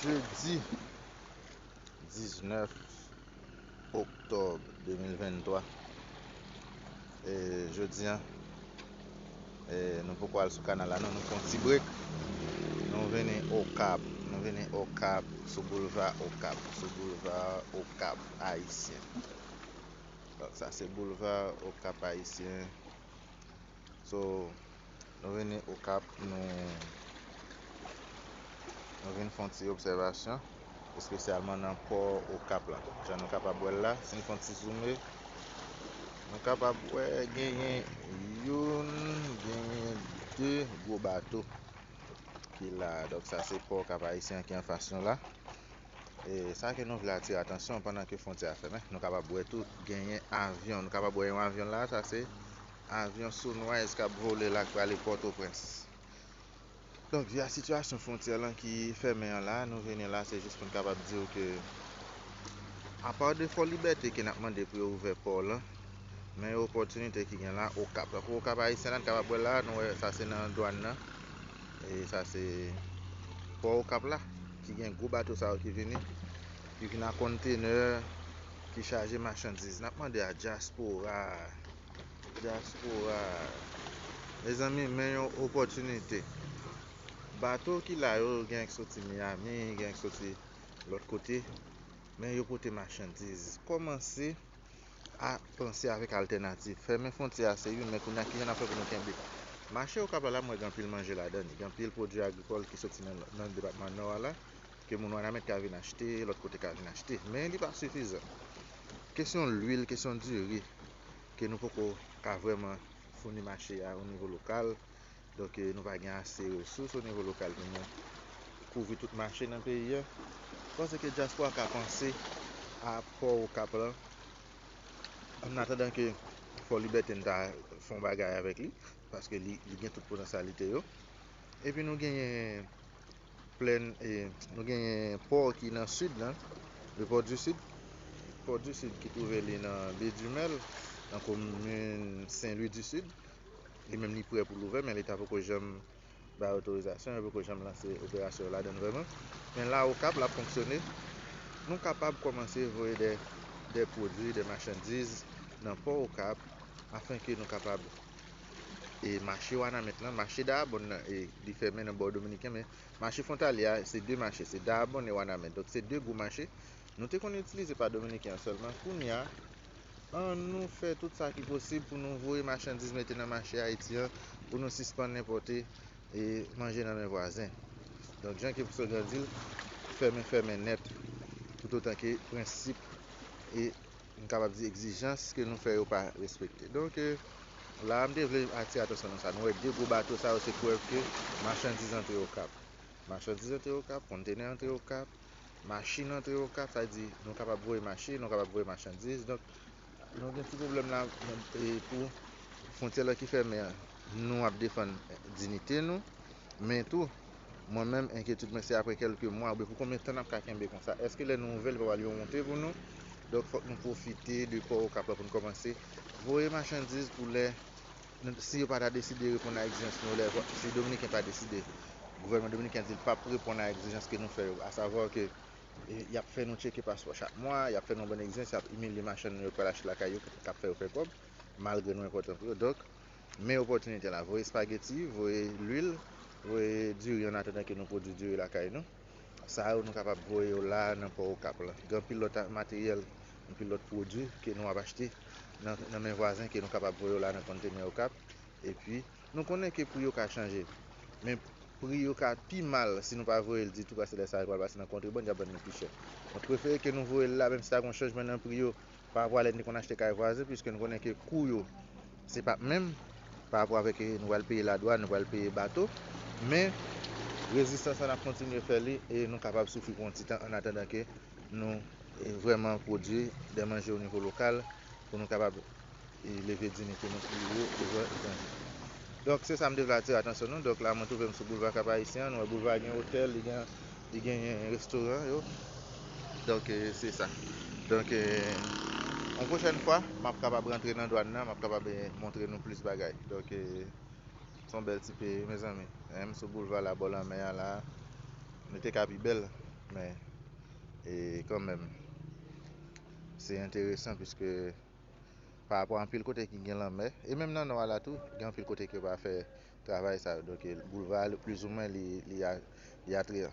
Jeudi 19 octobre 2023 Et jeudi an eh, Nou poko al sou kanal la non, nou fon ti break Nou vini Okap, nou vini Okap Sou boulva Okap, sou boulva Okap Ayisyen Sa se boulva Okap Ayisyen So nou vini okap nou nou vin fon ti obsèvasyon espesyalman nan pò okap la jan nou kapab wèl la sin fon ti zoume nou kapab wè genyen youn genyen de gwo bato ki la dòk sa se pò kap ayisyen ki anfas nou la e sa ke nou vle atire atansyon pandan ke fwontyè a fèmen nou kapab wè tou genyen avyon nou kapab wè yon avyon la sa se Avyon Sunrise k ap vole la k prale Pòtoprens. Donk vi a sitiyasyon fwontyè lan ki fèmen an la, nou vini la se jis pou n kapab di w ke apa de Fòlibète ke n ap mande pou yo ouvè pò lan, men yo opòtinite ki gen la Okap. Tankou Okap Ayisyen la n kapab wè l la a, nou wè sa se nan dwàn nan e sa se pò Okap la ki gen gwo bato sa yo ki vini, ki vini a konntenè, ki chaje machandiz. N ap mande a dyaspora a. Diaspora a. Mezanmi men yon opòtinite. Bato ki la yo gen ki soti Miami, gen ki soti lòt kote, men yo pote machandiz. Kòmanse a panse avèk altènativ. Fèmen fwontyè a se youn, men kounye a kijan n ap fè pou nou kenbe. Mache Okap la la m wè gen anpil manje ladan li, gen anpil pwodui agrikòl ki soti nan depatman Nò a la, Ke moun Wanament ka vin achte, lòt kote ka vin achte. Men li pa sifizan. Kesyon lwil, kesyon diri, ke nou poko ka vrèman founi mache a o nivo lokal, donk nou pa gen ase resous o nivo lokal pou nou kouvri tout mache nan peyi a. M panse ke dyaspora ka panse a pò Okap lan, ann atandan ke Fò Libète n ta fon bagay avèk li, paske li gen tout potansyalite yo. Epi nou genyen. Plèn e nou genyen pò ki nan sid lan, le port du sud, port du sud ki twouve li nan baie du Mel nan komin Sen Lwi di Sid, li menm li prè pou l ouvè men leta poko janm bay otorizasyon, yo poko janm lanse operasyon yo ladann vrèman, men la Okap lap fonksyone, nou kapab kòmanse voye dè pwodwi, dè machandiz nan pò Okap afenke nou kapab. e mache wanament lan, mache daabonn nan e li fèmen nan bò dominiken men mache fwontalye a se 2 mache se daabonn e wanament donk se 2 gwo mache nou te konn itilize pa dominiken an sèlman kounya an nou fè tout sa ki posib pou nou voye machandiz mete nan mache ayiti an pou nou sispann enpòte e manje nan men vwazen donk jan ke psogran di l fèmen fèmen nèt toutotan ke prensip e M kapab di egzijans ke nou fè yo pa respekte. Donk, la a m te vle atire atansyon nan sa. Nou wè 2 gwo bato sa yo se prèv ke machandiz antre Okap. Machandiz antre Okap, kontenè antre Okap, machin antre Okap, sa vle di nou kapab voye machin, nou kapab voye machandiz. Donk, nou gen ti pwoblèm la pou fwontyè la ki fèmen an. Nou ap defann dinite nou, men tou Mwen menm enkyetid mwen se apre kelke mwa oubyen pou konbyen tan nap ka kenbe konsa eske lè nou ouvè li pa pral yon wonte pou nou donk fòk nou pwofite de kò okap la pou nou kòmanse voye machandiz pou lè si yo pa ta deside reponn a egzijans nou lè si dominiken pa deside gouvènman dominiken di li pap reponn a egzijans ke nou fè yo asavwa ke yap fè nou tcheke paspò chak mwa yap fè nou anbann egzijans yap imilye machann nou yo pral achte lakay yo kap fè yo fè kòb malgre nou enpòtan pou yo donk. Men opòtinite la, voye spageti, voye lwil, voye diri an atandan ke nou pwodui diri lakay nou. Sa yo nou kapab voye yo la a nan pò Okap la. Gen anpil lòt materyèl, anpil lòt pwodui ke nou ap achte nan men vwazen ke nou kapab voye yo la nan konntenè Okap. E pi, nou konnen ke pri yo ka chanje. Men pri yo ka pi mal si nou pa voye l ditou paske lè sa a yo pral pase nan kontrebann, y ap vann li pi chè. Mwen prefere ke nou voye l la menm si ta gen yon chanjman nan pri yo Parapò a lè n te konn achte kay vwazen, piske n konnen ke kou yo se pap menm, parapò avèk ke nou pral peye ladwàn, nou pral peye bato, men rezistans la n ap kontinye fè li e nou kapab soufri pou yon ti tan annatandan ke nou vrèman pwodui dè manje onivo lokal pou nou kapab E leve diyinite nou pi wo e jwenn etandye. Donk se sa m te vle atire atansyon nou. Donk la mwen twouve m sou boulva Kap Ayisyen an. Nou wè boulva a gen otèl, li gen li genyen restoran yo. Donk e se sa. Donk e yon pwochèn fwa m ap kapab rantre nan dwàn nan, m ap kapab e montre nou plis bagay. Donk e se yon bèl ti peyi wi mezanmi. E m sou boulva la bò lanmè a la. Li te ka pi bèl men e kanmenm se enteresan piske pa rapò anpil kote ki gen lanmè e menm nan nò a la tou gen anpil kote ki yo pa fè travay sa yo donk boulva a plizoumwen li li atryan.